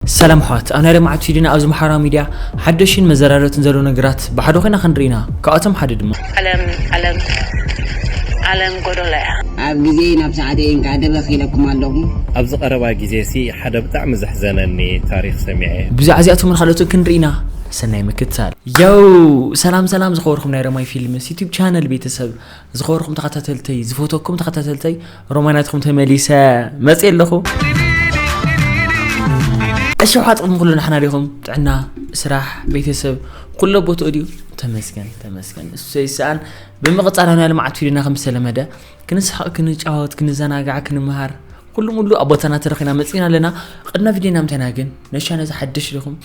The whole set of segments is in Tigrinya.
ሰላም ኣሕዋት ኣብ ናይ ለማዓት ፊድና ኣብዚ ማሕበራዊ ሚድያ ሓደሽን መዘራረትን ዘሎ ነገራት ብሓደ ኮይና ክንርኢ ኢና ካብኣቶም ሓደ ድማ። ዓለም ዓለም ዓለም ጎዶሎ እያ። ኣብ ግዜይ ናብ ሰዓተይ እንቃዕ ደበክ ኢለኩም ኣለኩ። ኣብዚ ቀረባ ግዜ ሲ ሓደ ብጣዕሚ ዘሕዘነኒ ታሪክ ሰሚዐ። ብዛዕባ እዚኣቶምን ካልኦትን ክንርኢ ኢና ሰናይ ምክትታል። Yow ሰላም ሰላም ዝኸበርኩም ናይ ረማይ ፊልምስ ዩቱብ ቻነል ቤተሰብ ዝኸበርኩም ተኸታተልተይ ዝፈተኩም ተኸታተልተይ ሮማናትኩም ተመሊሰ መፅእ ኣለኹ እሸውሓ ጥቕሚ ኩሉ ንሕና ዲኹም ጥዕና ስራሕ ቤተሰብ ኩሎ ቦትኡ ድዩ ተመስገን ተመስገን እሱ ዘይሰኣን ብምቕፃል ናይ ልምዓት ፊድና ከም ዝተለመደ ክንስሓቕ ክንጫወት ክንዘናጋዕ ክንምሃር ኩሉ ሙሉ ኣብ ቦታና ተረኺና መፅእና ኣለና ቅድና ቪድዮና ምተና ግን ነሻ ነዚ ሓድሽ ዲኹም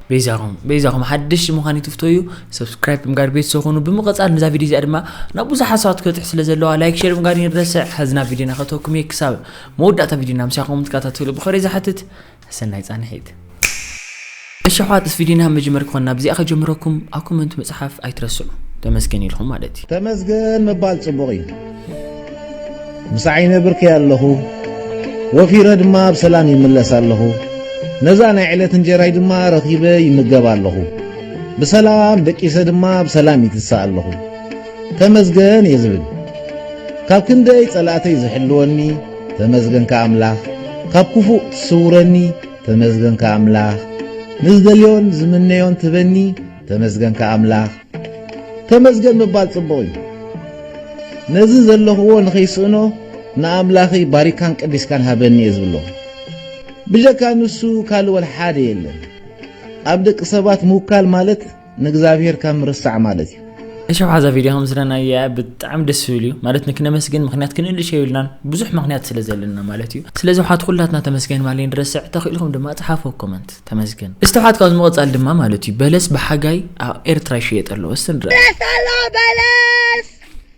በይዛኹም በይዛኹም ሓድሽ ምዃን ይትፍተዩ ሰብስክራይብ ብምጋር ቤተሰብ ኮኑ ብምቐፃል ነዛ ቪድዮ እዚኣ ድማ ናብ ብዙሓት ሰባት ክበፅሕ ስለ ዘለዋ ላይክ ሸር ብምጋር ይረስዕ ሕዝና ቪድዮና ከተኩም እየ ክሳብ መወዳእታ ቪድዮና ምሳኹም ትከታተሉ ብኸሪ ዝሓትት ሰናይ ፃንሒት እሺ ኣሕዋት እስፊ ዲና መጀመር ክኮን ናብዚኣ ከጀምረኩም ኣብ ኮመንት ምጽሓፍ ኣይትረስዑ ተመስገን ኢልኩም ማለት እዩ። ተመስገን ምባል ጽቡቕ እዩ ምሳዕይ ነብርኪ ኣለኹ ወፊረ ድማ ብሰላም ይምለስ ኣለኹ ነዛ ናይ ዕለት እንጀራይ ድማ ረኺበ ይምገብ ኣለኹ ብሰላም ደቂሰ ድማ ብሰላም ይትሳእ ኣለኹ ተመስገን እየ ዝብል ካብ ክንደይ ጸላእተይ ዝሕልወኒ ተመስገንካ ኣምላኽ ካብ ክፉእ ትስውረኒ ተመስገንካ ኣምላኽ ንዝደልዮን ዝምነዮን ትህበኒ ተመስገንካ ኣምላኽ። ተመስገን ምባል ጽቡቕ እዩ ነዚ ዘለኽዎ ንኸይስእኖ ንኣምላኽይ ባሪካን ቀዲስካን ሃበኒ እየ ዝብሎ ብጀካ ንሱ ካልእ ወልሓደ የለን ኣብ ደቂ ሰባት ምውካል ማለት ንእግዚኣብሔር ካብ ምርሳዕ ማለት እዩ። እሺ ኣብሓዛ ቪድዮ ከምስለናያ ብጣዕሚ ደስ ዝብል እዩ ማለት ንክነመስግን ምክንያት ክንእልሽ የብልናን ብዙሕ ምክንያት ስለ ዘለና ማለት እዩ ስለዚ ውሓት ኩላትና ተመስገን ማለይ ንረስዕ ተኽኢልኩም ድማ ጽሓፎ ኮመንት ተመስገን እስቲ ውሓት ካብ ዝመቐጻል ድማ ማለት እዩ በለስ ብሓጋይ ኣብ ኤርትራ ይሽየጥ ኣለዎ እስቲ ንረእ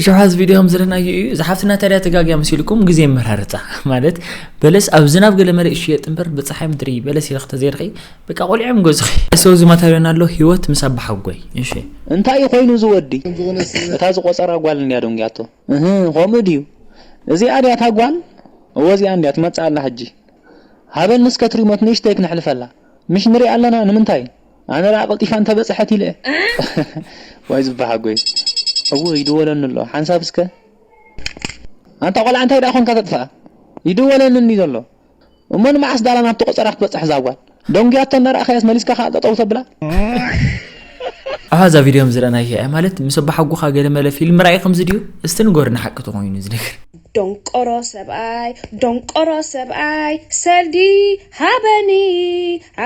እሾሓዝ ቪድዮ ከም ዘለናዮ እዩ እዛ ሓፍትና ታዲያ ተጋግያ መሲልኩም ግዜ መራርፃ ማለት በለስ ኣብ ዝናብ ገለ መለ ይሽየጥ እምበር ብፀሓይ ምድሪ በለስ ኢልክ ተዘይርኺ በቃ ቆሊዖም ገዝኺ። ሰው ዝመታ ዮና ኣሎ ሂወት ምስ ኣባሓጎይ እሺ። እንታይ እዩ ኮይኑ እዚ ወዲ እታ ዝቆጸራ ጓል እንድያ ደንጉያቶ እህ ከምኡ ድዩ እዚኣ ድያ እታ ጓል እወ እዚኣ እንድያ ትመጽእ ኣላ ሕጂ ሃበኒ እስከ እቲ ሪሞት ንእሽተይ ክነሕልፈላ ምሽ ንሪኣ ኣለና ንምንታይ ኣነ ድኣ ቀልጢፋ እንተ በጽሐት ኢለ ዋይ ዝባሓጎይ እውይ ይድወለኒ ኣሎ ሓንሳብ እስከ ኣንታ ቆልዓ እንታይ ድኣ ኮንካ ተጥፍኣ ይድወለኒ እንድዩ ዘሎ እሞ ንመዓስ ዳላ ናብቲ ቆጸራ ክትበጽሕ እዛ ጓል? ደንጉያቶ እንዳ ረኣኻያስ መሊስካ ከኣ ጠጠው ተብላ። ኣሃ እዛ ቪድዮ ከም ዝረኣናያ እያ ማለት ምስ ኣባሓጎኻ ገለ መለ ፊልም ራኢ ከምዚ ድዩ እስቲ ንገሩና ሓቂ ተኾይኑ እዚ ነገር። ዶንቆሮ ሰብኣይ ዶንቆሮ ሰብኣይ ሰልዲ ሃበኒ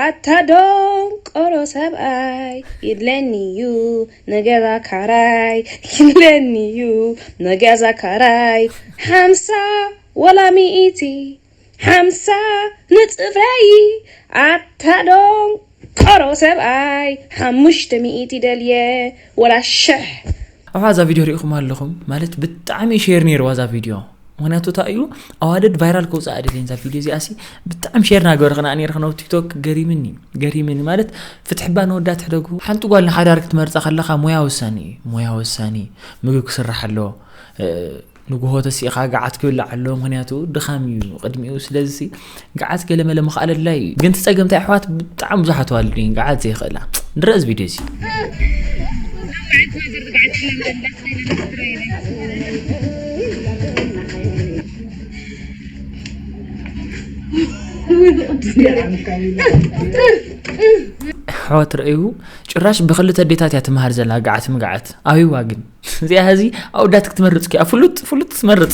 ኣታ ዶንቆሮ ሰብኣይ ይድለኒ ዩ ንገዛ ካራይ ይድለኒ ዩ ንገዛ ካራይ ሓምሳ ወላ ሚኢቲ ሓምሳ ንጽፍረዪ ኣታ ዶንቆሮ ሰብኣይ ሓሙሽተ ሚኢቲ ደልየ ወላ ሽሕ። ኣሕ እዛ ቪድዮ ሪኢኹማ ኣለኹም ማለት ብጣዕሚ ሼር ነይርዋ እዛ ቪድዮ ምክንያቱ እንታይ እዩ ኣዋደድ ቫይራል ከውፅእ ኣይደልየን እዛ ቪድዮ እዚኣ ሲ ብጣዕሚ ሼር ናገበርክና ነይረ ክነብ ቲክቶክ ገሪምኒ ገሪምኒ ማለት ፍትሒ እባ ንወዳ ትሕደጉ ሓንቲ ጓል ንሓዳር ክትመርፃ ከለካ ሞያ ወሳኒ እዩ ሞያ ወሳኒ ምግብ ክስራሕ ኣለዎ ንግሆ ተሲእኻ ገዓት ክብላዕ ኣለዎ ምክንያቱ ድኻም እዩ ቅድሚኡ ስለዚ ገዓት ገለመለ ምኽኣል ኣድላይ እዩ ግን ትፀገም እንታይ ኣሕዋት ብጣዕሚ ብዙሓት ዋልድ እየን ገዓት ዘይኽእላ ንረእ እዚ ቪድዮ እዚ ኣሕዋት ረኣዩ ጭራሽ ብክልተ ኣዴታት እያ ትምሃር ዘላ ገዓት ምግዓት ኣብይዋ ግን እዚኣ ሀዚ ኣውዳት ክትመርፅ ኪያ ፍሉጥ ፍሉጥ ትመርፅ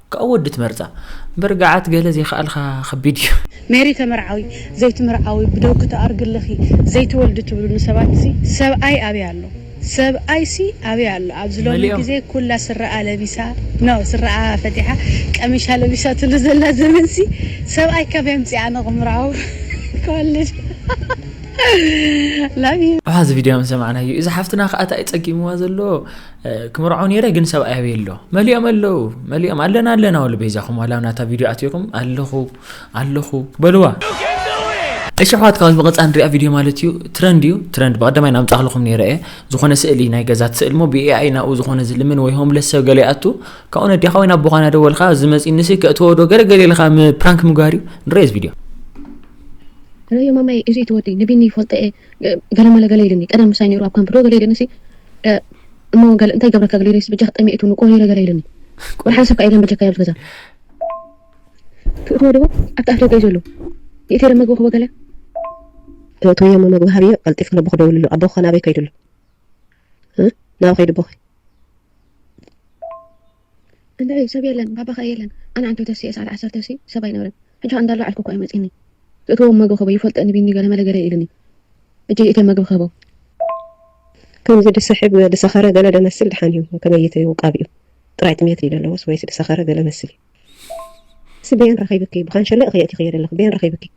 ካኣ ወዲ ትመርጻ እምበር ጋዓት ገለ ዘይካኣልካ ከቢድ እዩ። ሜሪ ተመርዓዊ ዘይትምርዓዊ ብደውኪ ትኣርጊ ኣለኺ ዘይትወልዲ ትብሉኒ ሰባትሲ ሰብኣይ ኣበይ ኣሎ ሰብኣይሲ ኣበይ ኣሎ ኣብዚ ሎሚ መሊኦም። ግዜ ኩላ ስረኣ ለቢሳ ን ስረኣ ፈቲሓ ቀሚሻ ለቢሳትሉ ዘላ ዘመንሲ ሰብኣይ ካበይ ኣምጺኣ ኣነ ክምርዓው ክወልድ Love you። ኣሕ እዚ ቪድዮ ምስ ሰማዕናዮ እዚ ሓፍትና ካኣ ታይ እዩ ጸጊምዋ ዘሎ ክምርዖ ነይረ ግን ሰብኣይ ኣበይ ኣሎ መሊኦም ኣለዉ መሊኦም ኣለና ኣለና ወሉ በይዛኹም ዋላ ናታ ቪድዮ ኣትኹም ኣለኹ ኣለኹ በልዋ እሺ ኣሕዋት ካብዚ ብቐፃ ንሪኣ ቪድዮ ማለት እዩ ትረንድ እዩ ትረንድ ብቐዳማይ ናምፃኽልኹም ነይረ እየ ዝኾነ ስእሊ ናይ ገዛት ስእሊ ሞ ብኤኣይ ናብኡ ዝኾነ ዝልምን ወይ ሆምለስ ሰብ ገለ ይኣቱ ካብኡ ነዲኻ ወይ ናብ ቦኻና ደወልካ ዝመፅኒሲ ከእትወዶ ገለ ገለ ኢልካ ፕራንክ ምግባር እዩ ንረኦ እዚ ቪድዮ ረዮ ማማይ እዚ ትወዲ ንቢኒ ይፈልጦ እየ ገለ መለ ገለ ኢሉኒ ቀደም ምሳይ ኔሩ ኣብ ካምፕ ዶ ገለ ኢሉኒሲ እሞ ገለ እንታይ ይገብረካ ገለ ኢሉኒሲ በጃኺ ጠሚየቱ ንቆ ኔረ ገለ ኢሉኒ ወርሓደ ሰብ ከኣ የለን በጃካ ኣብዚ ገዛ ትእትዎ ዶ ኣብቲ ኣፍ ደገ እዩ ዘሎ ይእትየ ዶ መግቢ ክቦ ገለ ትእትውዮ እሞ መግቢ ሃብዮ ቀልጢፍኪ ነቦኺ ደውልሉ ኣቦኺ ከ ናበይ ከይዱ ኣሎ ናበይ ከይዱ ኣቦኺ እንድዒ ሰብ የለን ባባ ከኣ የለን ኣነ ዓንተው ተሲኤ ሰዓት ዓሰርተ ሲ ሰብ ኣይነብርን ሕጂ ከኣ እንዳሎ ዓልኩ ኮእዩ መጺኒ ዝእትዎም መግቢ ክህቦ ይፈልጦ እኒ ቢኒ ገለ መለ ገለ ኢሉኒ ሕጂ ይእትዮም መግቢ ክህቦ ከምዚ ድስሕብ ድሰኸረ ገለ ደመስል ድሓን እዩ ከመይት እዩ ውቃቢኡ ጥራይ ጥምየት ድዩ ደለዎስ ወይስ ድሰኸረ ገለ መስል እዩ። እሲ በየን ረኺብኪ ብካንሸሎ እኺ የእቲኽዮ ደለኺ በየን ረኺብኪ።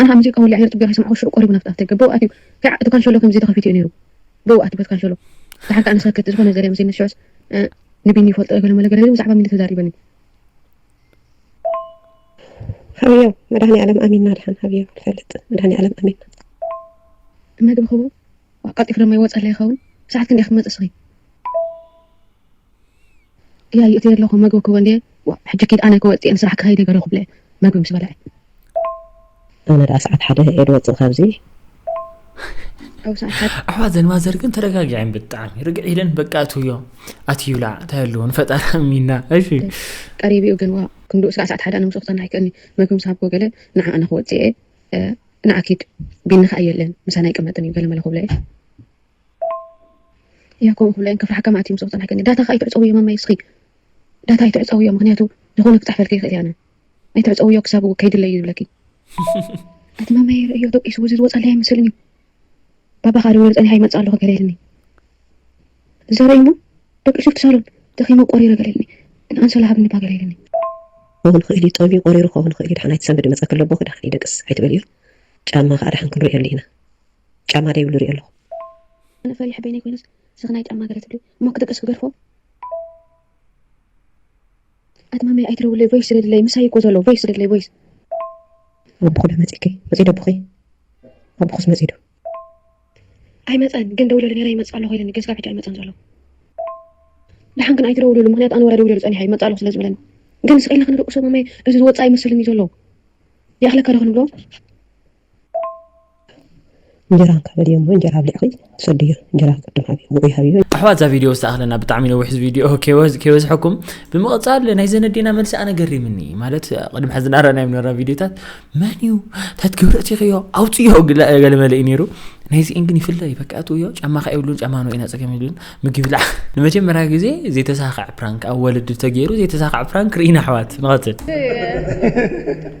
ኣነ ኣብ ሙዚቃ ወሊዐ ነይረ ጽግያት ኣይሰማዕኩን ሽዑ ቆሪቡ ናብቲ ኣፍደገ ብእኡ ኣትዩ ከኣ እቲ ካንሸሎ ከምዚ ተኸፊቱ እዩ ነይሩ ብእኡ ኣትዩ በቲ ካንሸሎ ደሓር ከኣ ንሰክት ዝኾነ ዘርየ መሲልኒ ሽዑስ ንቢኒ ይፈልጦ ገለ መለ ገለ ኢሉ ብዛዕባ ሚሊ ተዛሪበኒ ሓውዮ መድሃኒኣለም ኣሚንና ድሓን ሓውዮ ንፈልጥ መድሃኒኣለም ኣሚንና መግቢ ክቡር ቀልጢፉ ደማ ይወጸለይ ይኸውን ሰዓት ክንደይ ክትመጽ እስኺ። ክያይ እትየ ኣለኹ መግቢ ክበል እየ ዋእ ሕጂ ኪድ ኣነ ከወጽ እየ ንስራሕ ክኸይድ እየ ገለ ክብለ መግቢ ምስ በልዐ። ኣነ ድኣ ሰዓት ሓደ እየ ድወጽእ ካብዚ። ኣሕዋት ዘን ማዘር ግን ተረጋጊዐን ብጣዕሚ ርግዕ ኢለን በቃ እትውዮ ኣትዩላ እንታይ ኣለዎ ንፈጣሪ ኣሚና እሺ ቀሪቢኡ ግን ዋ ክንዱ እስካዕ ሰዓት ሓደ ኣነ ምስኡ ክተና ኣይክእልኒ መግቢ ምስ ሃብኮ ገለ ንዓ ኣነ ክወፅእ እየ ንዓ ኪድ ቢኒ ከዓ የለን ምሳና ኣይቅመጥን እዩ ገለ መለ ክብለ እየ ያቆብ ኩሉ እየን ከፍርሓካ መኣት እዩም ዝቁጠን ሓቀኛ ዳታካ ኣይትዕፀውዮ ማማየ እስኪ ዳታ ኣይትዕፀውዮ ምክንያቱ ዝኮነ ክፀሕፈልኪ ይክእል እዩ ኣነ ኣይትዕፀውዮ ክሳብ ከይድለይ እዩ ዝብለኪ ኣቲ ማማየ ርእዮ ደቂሱ እዚ ዝወፀለይ ኣይመስልን እዩ ባባ ከዓ ደዊሉ ፀኒሓ ይመፅእ ኣለኩ ገለ ኢልኒ እዛ ርእዩሞ ደቂሱ እቲ ሳሎን ደኺመ ቆሪረ ገለ ኢልኒ ንኣንሶላ ሃብኒ እባ ገለ ኢልኒ ክኸውን ይኽእል እዩ ጠብዩ ቆሪሩ ክኸውን ይኽእል እዩ ድሓን ኣይትሰንብዲ መፀኪ ኣሎ ኣቦኺ ድሓን ይደቅስ ኣይትበልዮ ጫማ ከዓ ድሓን ክንርእየሉ ኢና። ጫማ ደይብሉ እሪኦ ኣለኹ። ኣነ ፈሪሐ በይነይ ኮይነስ ስኽናይ ጫማ ገለ ትብሉ እሞ ክድቅስ ክገድፎ። ኣቲ ማመይ ኣይትደውልለይ ቮይስ ስደድለይ ምሳይ እዩ እኮ ዘሎ ቮይስ ስደድለይ ቮይስ። ኣቦኹ ዶ መጺእኪ መጺኡ ዶ ኣቦኺ ኣቦኹስ መጺኡ ዶ። ኣይመጸን ግን ደዊለሉ ኔረ ይመጽእ ኣሎ ኢሉኒ ግን ስጋብ ሕጂ ኣይመጸን ዘሎ። ደሓን ግን ኣይትደውልሉ ምኽንያቱ ኣነ ወላ ደዊለሉ ጸኒሐ ይመጽእ ኣለኹ ስለ ዝብለኒ ግን ስቕ ኢልና ክንድቅሶ ማመይ እዚ ዝወጽኣ ይመስለኒ ዘሎ ይኣኽለካ ዶ ክንብሎ። እንጀራ እንካ በልዮ እሞ እንጀራ ኣብሊዕኺ ትሰድዮ እንጀራ ቅድም ሃብዮ ውዑይ ሃብዮ ኣሕዋት እዛ ቪድዮ ዝተኣኽለና ብጣዕሚ ነዊሕ ቪድዮ ከይበዝሐኩም ብምቕፃል ናይ ዘነዴና መልሲ ኣነ ገሪምኒ ማለት ቅድሚ ሕዚ ናረናዮ ነራ ቪድዮታት መን እዩ ታት ክብረት ይኽዮ ኣውፅዮ ገለ መለ እዩ ነይሩ ናይዚኤን ግን ይፍለ እዩ በቃ እትውዮ ጫማ ከ የብሉን ጫማ ነው ኢና ፀገም የብሉን ምግቢ ብላዕ ንመጀመርያ ግዜ ዘይተሳኽዕ ፕራንክ ኣብ ወለዲ ተገይሩ ዘይተሳኽዕ ፕራንክ ርኢና ኣሕዋት ንቐፅል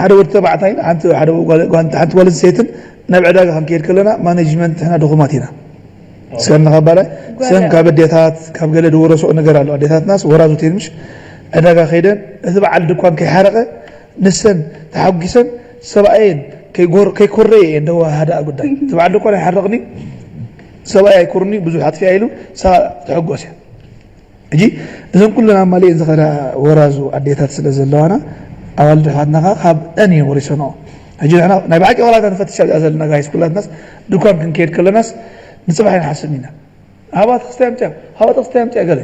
ሓደ ወዲ ተባዕታይን ሓንቲ ጓል ኣንስተይትን ናብ ዕዳጋ ክንከይድ ከለና ማነጅመንት ንሕና ድኹማት ኢና ሰን ንካባላይ ሰን ካብ ኣዴታት ካብ ገለ ድወረስኦ ነገር ኣሎ ኣዴታትናስ ወራዙት እየን ምሽ ዕዳጋ ከይደን እቲ በዓል ድኳን ከይሓረቐ ንሰን ተሓጒሰን ሰብኣየን ከይኮረየ እየን ደወሃሃዳ ጉዳይ እቲ በዓል ድኳን ኣይሓርቕኒ ሰብኣይ ኣይኮርኒ ብዙሕ ኣጥፊኣ ኢሉ ሰባ ተሐጎስ እያ ሕጂ እዘን ኩለን ኣማሊኤን ዝኸዳ ወራዙ ኣዴታት ስለ ዘለዋና ኣዋልድ ኣሕዋትና ከኣ ካብኣን እየን ወሪሰንኦ። ሕጂ ንሕና ናይ ብሓቂ ዋላ እታ ንፈትሻ እዚኣ ዘለና ጋይስ ኩላትናስ ድኳን ክንከይድ ከለናስ ንጽባሕ ኣይንሓስብን ኢና። ሃባ ተኽስታይ ኣምጽኣ ሃባ ተኽስታይ ኣምጽኣ ገለ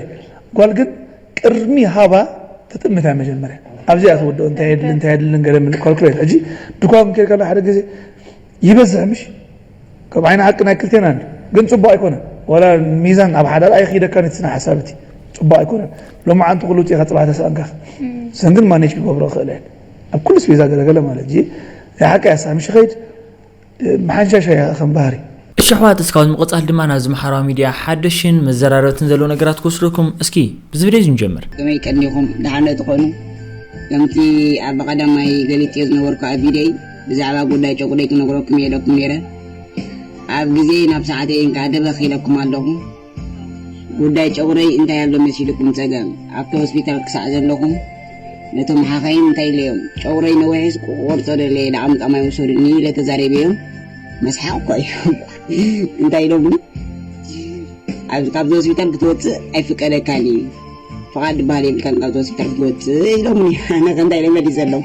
ጓል ግን ቅድሚ ሃባ ትጥምት እያ መጀመርያ ኣብዚኣ ትውድኦ እንታይ የድሊ እንታይ የድልን ገለ ምልእ ኳልኩሌት። ሕጂ ድኳን ክንከይድ ከለና ሓደ ግዜ ይበዝሕ ምሽ ከም ዓይኒ ሓቂ ናይ ክልቴና እንድዩ ግን ጽቡቅ ኣይኮነን ዋላ ሚዛን ኣብ ሓዳር ኣይኺደካን እቲ ስነ ሓሳብ እቲ ጽቡቅ ኣይኮነን ሎማዓንቲ ኩሉ ጢኻ ጽባሕ ተሳእንካ እሰን ግን ማኔጅ ክገብሮ ክኽእላ እየን ኣብ ኩሉ ስፔዛ ገለ ገለ ማለት እዚ ናይ ሓቂ እያ ሳሚ ሽኸይድ መሓንሻሻ እያ ከም ባህሪ እሺ ኣሕዋት እስካብ ንምቅጻል ድማ ናብዚ ምሓራዊ ሚድያ ሓደሽን መዘራረብትን ዘለዉ ነገራት ክወስደኩም እስኪ ብዚ ቪድዮ እዚ ንጀምር። ከመይ ቀኒኹም ደሓን ዶ ትኾኑ ከምቲ ኣብ ቀዳማይ ገሊጸዮ ዝነበርኩ ኣብ ቪድዮይ ብዛዕባ ጉዳይ ጨጉረይ ክነግረኩም እየ ኢለኩም ነይረ ኣብ ግዜ ናብ ሰዓተይ እንካዕ ደበኽ ኢለኩም ኣለኹ ጉዳይ ጨጉረይ እንታይ ኣሎ መሲልኩም ጸገም ኣብቲ ሆስፒታል ክሳዕ ዘለኹም ነቶም ሓኻይም እንታይ ኢለዮም ጨጉረይ ነዊሕስ ክቆርጾ ደለየ ላዕምጣ ማይ ውሰዱኒ ኢለ ተዛሪበዮም መስሓቅ እኳ እዩ እንታይ ኢሎምኒ ካብዚ ሆስፒታል ክትወፅእ ኣይፍቀደካን እዩ ፍቃድ ድበሃል የብልካን ካብዚ ሆስፒታል ክትወፅእ ኢሎምኒ ኣነ ከ እንታይ ኢለ መሊሰሎም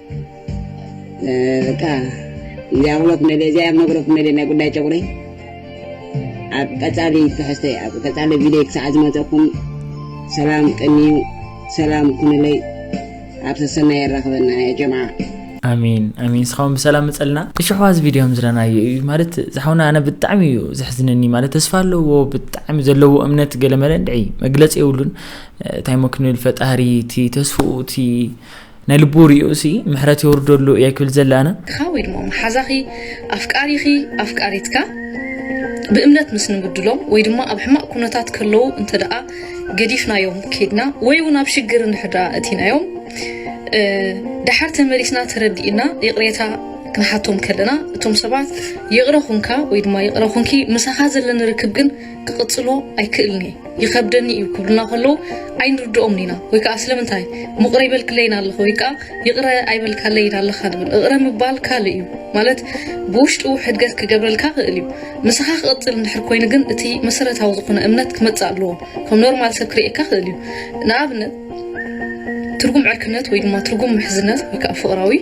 እታ እዚኣ ክብሎ ክመለ እዚኣ መግሮ ክመለ ናይ ጉዳይ ጨቑሪ ኣብ ቀፃሊ ትሕዝቶ ኣብ ቀፃሊ ቪድዮ ክሳዕ ዝመፀኩም ሰላም ቅንዩ ሰላም ኩኑለይ ኣብ ሰሰናይ የራኽበና ያ ጀምዓ ኣሜን ኣሜን ስኻውን ብሰላም መፀልና እሽሕዋ እዚ ቪድዮ ከም ዝረናዮ እዩ ማለት ዝሓውና ኣነ ብጣዕሚ እዩ ዘሕዝነኒ ማለት ተስፋ ኣለዎ ብጣዕሚ ዘለዎ እምነት ገለመለ እንድዒ መግለፂ የብሉን እንታይ ሞ ክንብል ፈጣሪ እቲ ተስፍኡ እቲ ናይ ልቡ ሪኡሲ ምሕረት የውርደሉ እየ ክብል ዝደሊ ኣነ። ካ ወይ ድማ መሓዛኺ፣ ኣፍቃሪኺ፣ ኣፍቃሪትካ ብእምነት ምስ ንብድሎም ወይ ድማ ኣብ ሕማቅ ኩነታት ከለዉ እንተ ደኣ ገዲፍናዮም ኬድና ወይ ውን ኣብ ሽግር እንድሕር ደኣ እቲናዮም ደሓር ተመሊስና ተረዲእና ይቅሬታ ክንሓቶም ከለና እቶም ሰባት ይቅረ ኩንካ ወይ ድማ ይቅረ ኩንኪ ምሳኻ ዘለኒ ርክብ ግን ክቕጽሎ ኣይክእልን እየ ይኸብደኒ እዩ ክብሉና ከለዉ ኣይንርድኦምን ኢና ወይ ከዓ ስለምንታይ ምቕረ ይበልክለይን ኣለኹ ወይ ከዓ ይቕረ ኣይበልካለይን ኣለኻ ንብል እቕረ ምባል ካልእ እዩ ማለት ብውሽጡ ሕድገት ክገብረልካ ክእል እዩ ምሳኻ ክቕፅል እንድሕር ኮይኑ ግን እቲ መሰረታዊ ዝኾነ እምነት ክመፅእ ኣለዎ ከም ኖርማል ሰብ ክርእየካ ክእል እዩ ንኣብነት ትርጉም ዕርክነት ወይ ድማ ትርጉም ምሕዝነት ወይ ከዓ ፍቕራዊ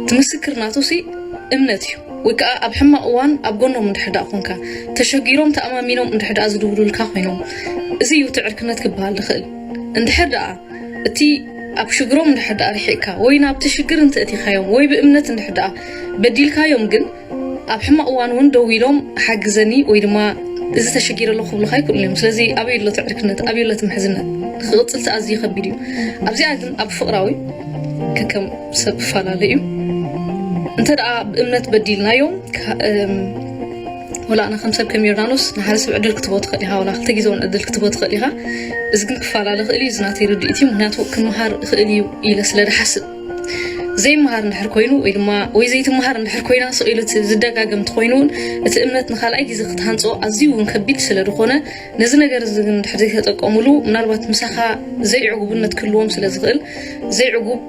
እቲ ምስክር ናቱሲ እምነት እዩ ወይ ከኣ ኣብ ሕማቅ እዋን ኣብ ጎኖም እንድሕር ደኣ ኮንካ ተሸጊሮም ተኣማሚኖም እንድሕር ደኣ ዝድውሉልካ ኮይኖም እዚ እዩ እቲ ዕርክነት ክበሃል ዝኽእል እንድሕር ደኣ እቲ ኣብ ሽግሮም እንድሕር ደኣ ሪሒቅካ ወይ ናብቲ ሽግር እንተእቲኻዮም ወይ ብእምነት እንድሕር ደኣ በዲልካዮም ግን ኣብ ሕማቅ እዋን እውን ደው ኢሎም ሓግዘኒ ወይ ድማ እዚ ተሸጊረ ኣለኹ ክብሉካ ኣይክእሉን እዮም ስለዚ ኣበይ ኣሎ ትዕርክነት ኣበይ ኣሎ ትምሕዝነት ክቅፅል ተኣዝዩ ከቢድ እዩ ኣብዚኣ ግን ኣብ ፍቅራዊ ከከም ሰብ ፈላለ እዩ እንተ ደኣ ብእምነት በዲልናዮም ወላእና ከም ሰብ ከም ዮርዳኖስ ንሓደ ሰብ ዕድል ክትቦ ትኽእል ኢኻ ወላ ክልተ ግዜ እውን ዕድል ክትቦ ትኽእል ኢኻ እዚ ግን ክፈላለ ክእል እዩ እዚ ናተይ ርድኢት እዩ ምክንያቱ ክምሃር ክእል እዩ ኢለ ስለ ድሓስብ ዘይመሃር እንድሕር ኮይኑ ወይ ድማ ወይ ዘይትመሃር እንድሕር ኮይና ስቕ ኢሉ ዝደጋገም እንተኾይኑ እውን እቲ እምነት ንካልኣይ ግዜ ክትሃንፆ ኣዝዩ እውን ከቢድ ስለ ዝኾነ ነዚ ነገር እዚ ግን እንድሕር ዘይተጠቀሙሉ ምናልባት ምሳኻ ዘይዕጉብነት ክህልዎም ስለ ዝኽእል ዘይዕጉብ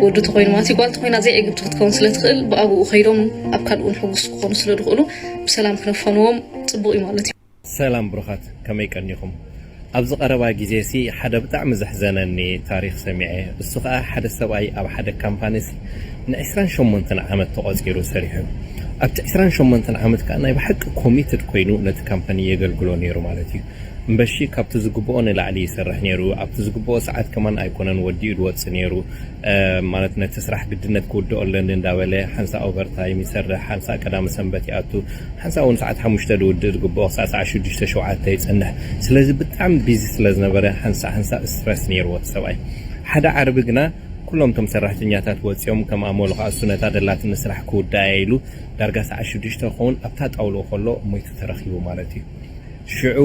ወዲ ተኮይኑ ማለት ጓል ተኮይና ዘይዕግብቲ ክትከውን ስለ ትኽእል ብኣብኡ ከይዶም ኣብ ካልኡ ንሕጉስ ክኾኑ ስለ ዝኽእሉ ብሰላም ክነፈንዎም ፅቡቕ እዩ ማለት እዩ ሰላም ብሩኻት ከመይ ቀኒኹም ኣብዚ ቀረባ ግዜሲ ሓደ ብጣዕሚ ዘሕዘነኒ ታሪኽ ሰሚዐ እሱ ከኣ ሓደ ሰብኣይ ኣብ ሓደ ካምፓኒሲ ን ዕስራን ሸሞንተን ዓመት ተቖጺሩ ሰሪሑ ኣብቲ ዕስራን ሸሞንተን ዓመት ከኣ ናይ ብሓቂ ኮሚትድ ኮይኑ ነቲ ካምፓኒ የገልግሎ ኔሩ ማለት እዩ እምበሺ ካብቲ ዝግብኦ ንላዕሊ ይሰርሕ ኔሩ ኣብቲ ዝግብኦ ሰዓት ከማን ኣይኮነን ወዲኡ ድወጽእ ኔሩ ማለት ነቲ ስራሕ ግድነት ክውድኦ ኣለኒ እንዳበለ ሓንሳእ ኦቨርታይም ይሰርሕ፣ ሓንሳእ ቀዳመ ሰንበት ይኣቱ፣ ሓንሳእ ውን ሰዓት ሓሙሽተ ዝውድእ ዝግብኦ ክሳዕ ሰዓት ሽዱሽተ ሸውዓተ ይጸንሕ። ስለዚ ብጣዕሚ ቢዚ ስለ ዝነበረ ሓንሳእ ሓንሳእ ስትረስ ኔርዎ እቲ ሰብኣይ። ሓደ ዓርቢ ግና ኩሎም እቶም ሰራሕተኛታት ወጺኦም ከም ኣመሉ ከኣ እሱ ነታ ደላትኒ ስራሕ ክውድኣ'የ ኢሉ ዳርጋ ሰዓት ሽዱሽተ ክኸውን ኣብታ ጣውልኡ ከሎ ሞይቱ ተረኺቡ ማለት እዩ። ሽዑ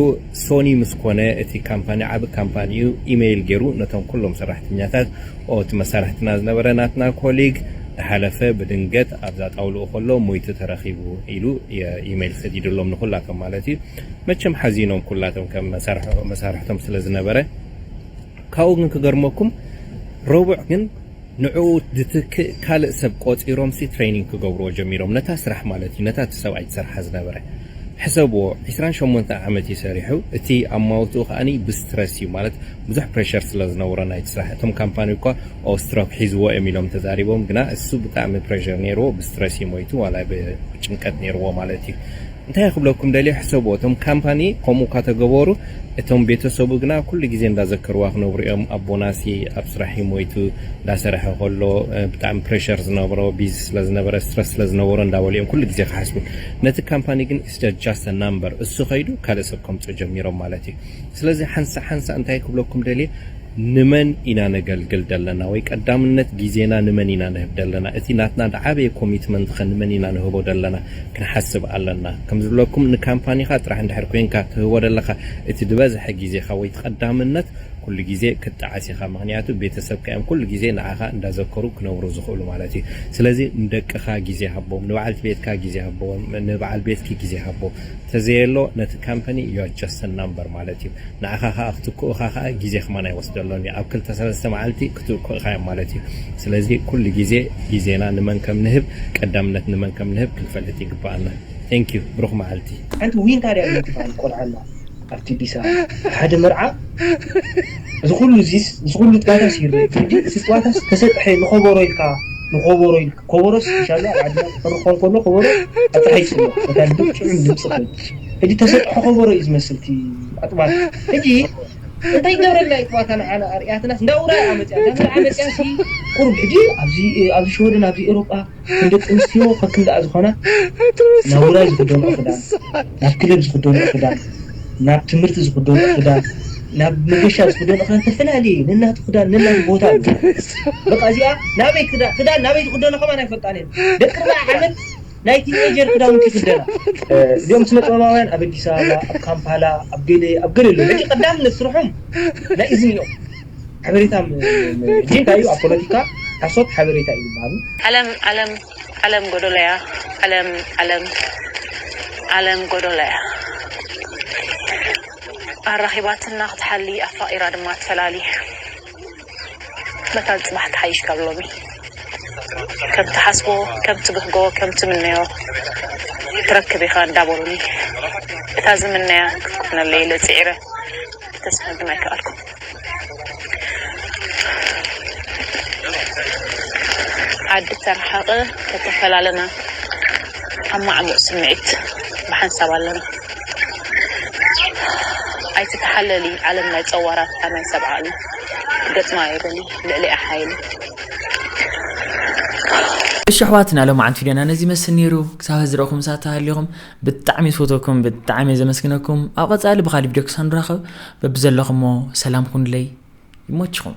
ሶኒ ምስ ኮነ እቲ ካምፓኒ ዓቢ ካምፓኒ እዩ ኢመይል ጌሩ ነቶም ኩሎም ሰራሕተኛታት ኦ እቲ መሳርሕትና ዝነበረ ናትና ኮሊግ ድሓለፈ ብድንገት ኣብዛ ጣውልኡ ከሎ ሞይቱ ተረኺቡ ኢሉ ኢመይል ሰዲድሎም ንኩላቶም ማለት እዩ መቸም ሓዚኖም ኩላቶም ከም መሳርሕኦም መሳርሕቶም ስለ ዝነበረ ካብኡ ግን ክገርመኩም ረቡዕ ግን ንዕኡ ዝትክእ ካልእ ሰብ ቆጺሮምሲ ትሬኒንግ ክገብርዎ ጀሚሮም ነታ ስራሕ ማለት እዩ ነታ እቲ ሰብኣይ ዝሰርሓ ዝነበረ። ሕሰብዎ ዕስራን ሸሞንተን ዓመት እዩ ሰሪሑ እቲ ኣማውትኡ ከኣ ብስትረስ እዩ ማለት ብዙሕ ፕረሸር ስለ ዝነበሮ ናይቲ ስራሕ እቶም ካምፓኒ እኳ ኦው ስትሮክ ሒዝዎ እዮም ኢሎም ተዛሪቦም ግና እሱ ብጣዕሚ ፕረሸር ኔርዎ ብስትረስ እዩ ሞይቱ ዋላ ብጭንቀት ኔርዎ ማለት እዩ እንታይ ክብለኩም ደልየ ሕሰብዎ እቶም ካምፓኒ ከምኡ እካ ተገበሩ እቶም ቤተሰቡ ግና ኩሉ ግዜ እንዳዘከርዋ ክነብሩ እዮም ኣቦናሲ ኣብ ስራሕ እዩ ሞይቱ እንዳሰረሐ ከሎ ብጣዕሚ ፕረሸር ዝነበሮ ቢዚ ስለ ዝነበረ ስትረስ ስለ ዝነበሮ እንዳበሉ እዮም ኩሉ ግዜ ክሓስቡ ነቲ ካምፓኒ ግን ኢትስ ጃስት ኣ ናምበር እሱ ከይዱ ካልእ ሰብ ከምፅኡ ጀሚሮም ማለት እዩ ስለዚ ሓንሳእ ሓንሳእ እንታይ ክብለኩም ደልየ ንመን ኢና ነገልግል ደለና ወይ ቀዳምነት ጊዜና ንመን ኢና ንህብ ደለና እቲ ናትና ድዓበየ ኮሚትመንት ከ ንመን ኢና ንህቦ ደለና ክንሓስብ ኣለና ከም ዝብለኩም ንካምፓኒካ ጥራሕ እንድሕር ኮይንካ ትህቦ ደለካ እቲ ድበዝሐ ጊዜካ ወይ እቲ ቀዳምነት ኩሉ ጊዜ ክትጥዓስ ኢካ ምክንያቱ ቤተሰብካ እዮም ኩሉ ጊዜ ንዓካ እንዳዘከሩ ክነብሩ ዝክእሉ ማለት እዩ ስለዚ ንደቅካ ጊዜ ሃቦም ንበዓልቲ ቤትካ ጊዜ ሃቦም ንበዓል ቤትኪ ጊዜ ሃቦ ተዘየሎ ነቲ ካምፐኒ you are just a number ማለት እዩ ንዓኻ ከኣ ክትክኡኻ ከኣ ግዜ ከማን ኣይወስደሎን እዩ ኣብ ክልተ ሰለስተ መዓልቲ ክትክኡኻዮም ማለት እዩ ስለዚ ኩሉ ግዜ ግዜና ንመን ከም ንህብ ቀዳምነት ንመን ከም ንህብ ክንፈልጥ ይግበኣና thank you ብሩኽ መዓልቲ። ሓንቲ ዊንታ ድያ ዊንቲ ትባሃል ቆልዓ ኣላ ኣብቲ ዲሳ ሓደ መርዓ እዚ ኩሉ እዚስ እዚ ኩሉ ጸዋታስ ይርእ ሕጂ እቲ ጸዋታስ ተሰጥሐ ንኮቦሮ ኢልካ ንኮቦሮ ኢልካ። ኮቦሮ ስፒሻሊ ኣብ ዓድና ክፍርኾ እንከሎ ኮቦሮ ኣጣሒሱ ኣሎ በታ ልብብ ጥዑም ድምጺ ክብል ሕጂ ተሰጥሖ ኮቦሮ እዩ ዝመስል እቲ ኣጥባታ ሕጂ እንታይ ይገብረልና እዩ ጥባታ ንዓና ኣርእያትናስ እንዳ ውራይ እያ መጺኣ እንዳ መርዓ መጺኣ ሲ ቁሩብ ሕጂ ኣብዚ ኣብዚ ሽወደን ኣብዚ ኤሮጳ ከም ደቂ ኣንስትዮ ከከም ደኣ ዝኾና ናብ ውራይ ዝኽደንኦ ክዳን ናብ ክለብ ዝኽደንኦ ክዳን ናብ ትምህርቲ ዝኽደንኦ ክዳን ናብ መገሻ ዝኽደኖ ክዳን ተፈላለየ እዩ ነናቱ ክዳን ነናቱ ቦታ ኣለዎ በቃ እዚኣ ናበይ ክዳን ክዳን ናበይ ዝኽደኖ ከማን ኣይፈልጣን እየን ደቂ ኣርብዓ ዓመት ናይ ቲንኤጀር ክዳውንቲ ይኽደና እዚኦም ስነ ጥበባውያን ኣብ ኣዲስ ኣበባ ኣብ ካምፓላ ኣብ ገለ ኣብ ገለ ኣለዉ ሕጂ ቀዳምነት ስርሖም ናይ እዝኒ እዮም ሓበሬታ ም ም ጂንካ እዩ ኣብ ፖለቲካ ሓሶት ሓበሬታ እዩ ዝበሃሉ። ዓለም ዓለም ዓለም ጎዶሎ'ያ ዓለም ዓለም ዓለም ጎዶሎ'ያ ኣራኺባትና ክትሓሊ ኣፋቒራ ድማ ትፈላሊ መታን ጽባሕ ትሓይሽ ካብ ሎሚ ከም ትሓስቦ ከም ትብህጎ ከም ትምነዮ ትረክብ ኢኻ እንዳበሉኒ እታ ዝምነያ ክትኮነለይ ኢለ ጽዒረ ክተስፋ ግን ኣይከኣልኩን። ዓዲ ተረሓቐ ተተፈላለና ኣብ ማዕሙቕ ስምዒት ብሓንሳብ ኣለና። ኣይትተሓለሊ ዓለም ናይ ጸዋራትካ ናይ ሰብ ዓቕሊ ገጥማ እየ በሊ ልዕሊኣ ሓይሊ። እሺ ኣሕዋት ናይ ሎማዓንቲ ቪድዮና ነዚ ይመስል ኔሩ ክሳብ ሀዚ ዝረእኹምስ ኣታ ሃሊኹም ብጣዕሚ ዝፈትወኩም ብጣዕሚ እየ ዘመስግነኩም ኣብ ቐፃሊ ብካሊእ ቪድዮ ክሳብ ንራኸብ በብዘለኹሞ ሰላም ኩኑለይ ይሞችኹም